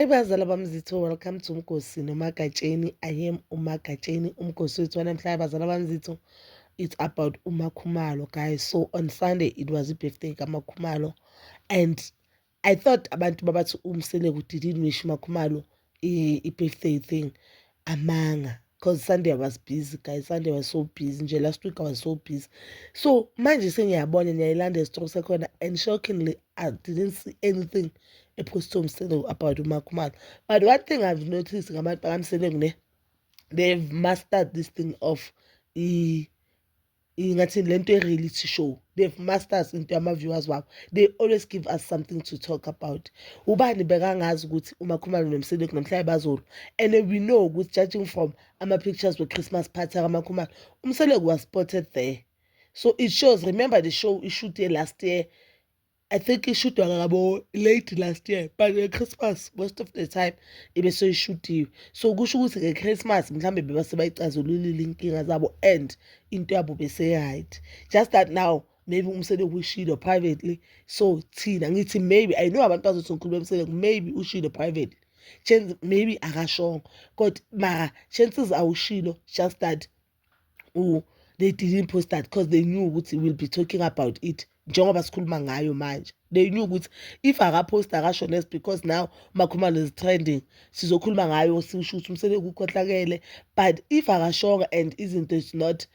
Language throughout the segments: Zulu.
Hey bazala bami zitho welcome to Mgosi noMagatsheni. I am uMagatsheni uMgosi wethu wanamhlanje bazala bami zitho. It's about uMakhumalo guys. So on Sunday it was i-birthday kaMakhumalo and I thought abantu babathi umseleku didn't wish uMakhumalo i-birthday thing. amanga because sunday i was busy guys sunday was so busy nje last week i was so busy so manje sengiyabona niyayilanda esitrong sekhona and shockingly i didn't see anything ephostwe umselo about umakhumalo but one thing i've noticed ngabantu bakamselengu ne they've mastered this thing of i ingathi le nto e-reality show they've masters into yama-viewers wabo they always give us something to talk about ubani bekangazi ukuthi umakhumalo nomsile kunomhlaba bazolo and we know ukuthi judging from ama-pictures we-christmas party akamakhumalo umseleku was spotted there so it shows remember the show ishute last year I think ishudwa ngabo late last year but nge-Christmas most of the time ibe seyishutiwe so kusho ukuthi nge-Christmas mhlawumbe beba sebayicazululile inkinga zabo and into yabo bese-right just that now maybe umsele kushilo privately so thina ngithi maybe i know abantu bazothi ngikhuluma emsele maybe ushilo privately chances maybe akashongo kodwa mara chances awushilo just that u they didn't post that because they knew ukuthi we'll be talking about it njengoba sikhuluma ngayo manje they knew ukuthi if akaposta akasho less because now makhumalo is trending sizokhuluma ngayo sisho ukuthi umsebenzi ukukhohlakele but if akashonga and izinto is not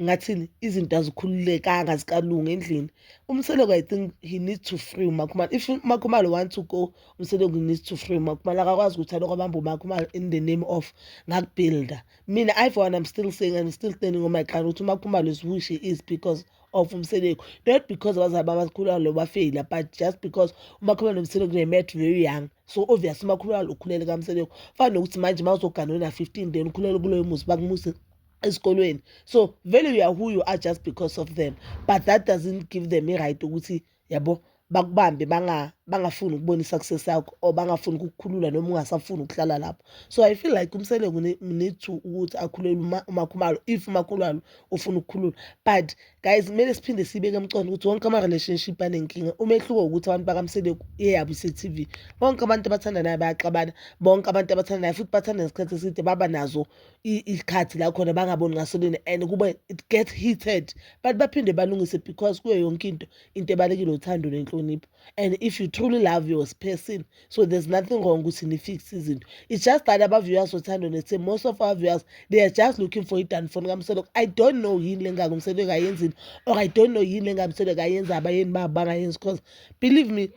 ngathini izinto azikhululekanga zikalunga endlini umseleko i think he needs to free umakhumalo if umakhumalo want to go umseleko needs to free umakhumalo akakwazi ukuthi aloko abambe umakhumalo in the name of ngakubuilda mina i for one i'm still saying i'm still standing on my ground ukuthi uma kuphuma lezi wish is because of umseleku not because abazali babakhulu alo bafeyila but just because umakhuluma nomseleku they met very young so obvious umakhuluma alo ukhulele kamseleku fana nokuthi manje uma uzogana wena-15 then ukhulele kuloyo muzi bakumuse esikolweni so vele you are who you are just because of them but that doesn't give them i-right ukuthi yabo bakubambe banga bangafuni ukubona i-success yakho or bangafuni ukukukhulula noma ungasafuni ukuhlala lapho so i feel like umseleku need to ukuthi akhulelwe umakhumalo if umakhulalo ufuna ukukhulula but guys kumele siphinde siyibeke emcondo ukuthi wonke ama-relationship anenkinga umehluko ukuthi abantu bakamseleku eyabo ise-tv bonke abantu abathandanayo bayaxabana bonke abantu abathandanayo futhi bathanda ngesikhathi eside baba nazo isikhathi la khona bangaboni ngaso lini and kube it get heated but baphinde balungise because kuyo yonke into into ebalekile uthando nenhlonipho and if you truly love your person so there's nothing wrong ukuthi nifix izinto it's just that abaviewers othando nethe most of our viewers they are just looking for idanfoni kamsoloko i don't know yini le ngaka umsoloko ayenzile or i don't know yini le ngaka umsoloko ayenza abayeni babo bangayenzi because believe me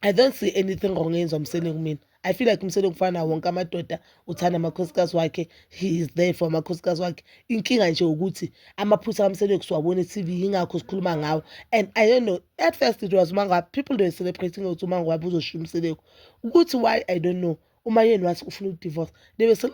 i don't see anything wrong eyenza umsoloko mina I feel like umsele kufana wonke amadoda uthanda amakhosikazi wakhe he is there for amakhosikazi wakhe inkinga nje ukuthi amaphutha kamsele kusiwabona e-tv yingakho sikhuluma ngawo and i don't know at first it was umangwa people were celebrating ukuthi umangwa uzoshiya umseleko ukuthi why i don't know uma yeni wathi ufuna udivorce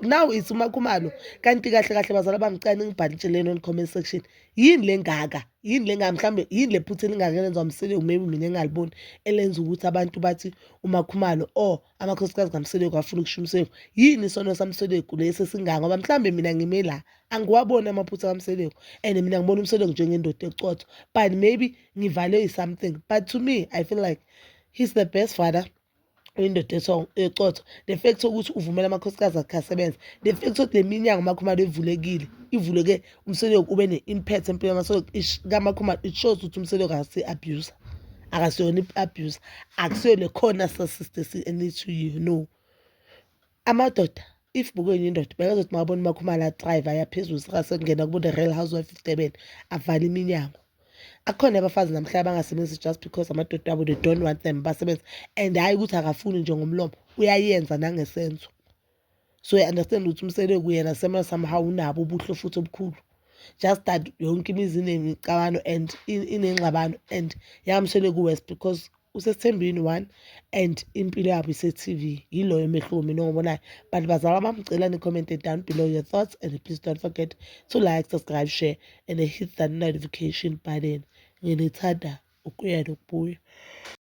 now it's umakhumalo kanti kahle kahle bazala bamcane ngibhale itsheleni on comment section yini le ngaka yini le ngaka mhlawumbe yini le phutha elingaka elenziwa mseleku maybe mina engaliboni elenza ukuthi abantu bathi umakhumalo or amakhosikazi kamseleku afuna ukusho umseleku yini isono samseleku lesi esingaka ngoba mhlawumbe mina ngime la angiwaboni amaphutha kamseleku and mina ngibona umseleku njengendoda ecotho but maybe ngivalwe i-something but to me i feel like he's the best father indoda ecotho the fact ukuthi uvumela amakhosikazi akhe asebenza the fact ukuthi le minyango umakhumalo evulekile ivuleke umseleko ube ne-impact empilo kamakhumalo it shows ukuthi umseleko akase-abuse akasiyona i-abuse akusiyo le khona sasiste si-ene to you no amadoda if bukwenye indoda bekazothi mawabona umakhumala adrayive ayaphezulu sika sekungena kubo the real housewife of durban avale iminyango akhona abafazi namhlanje abangasebenzi just because amadoda abo they don't want them basebenza and hhayi ukuthi akafuni nje ngomlomo uyayenza nangesenzo so i understand ukuthi umsele kuyena sema somehow unabo ubuhle futhi obukhulu just that yonke imizi inemicabano and inengxabano and yamshele ku-west because usesithembini one and impilo yabo ise-tv yiloyo umehluko mina ongibonayo but bazalwa bamcela ni-comment down below your thoughts and please don't forget to like subscribe share and hit that notification button nginithanda ukuya nokubuya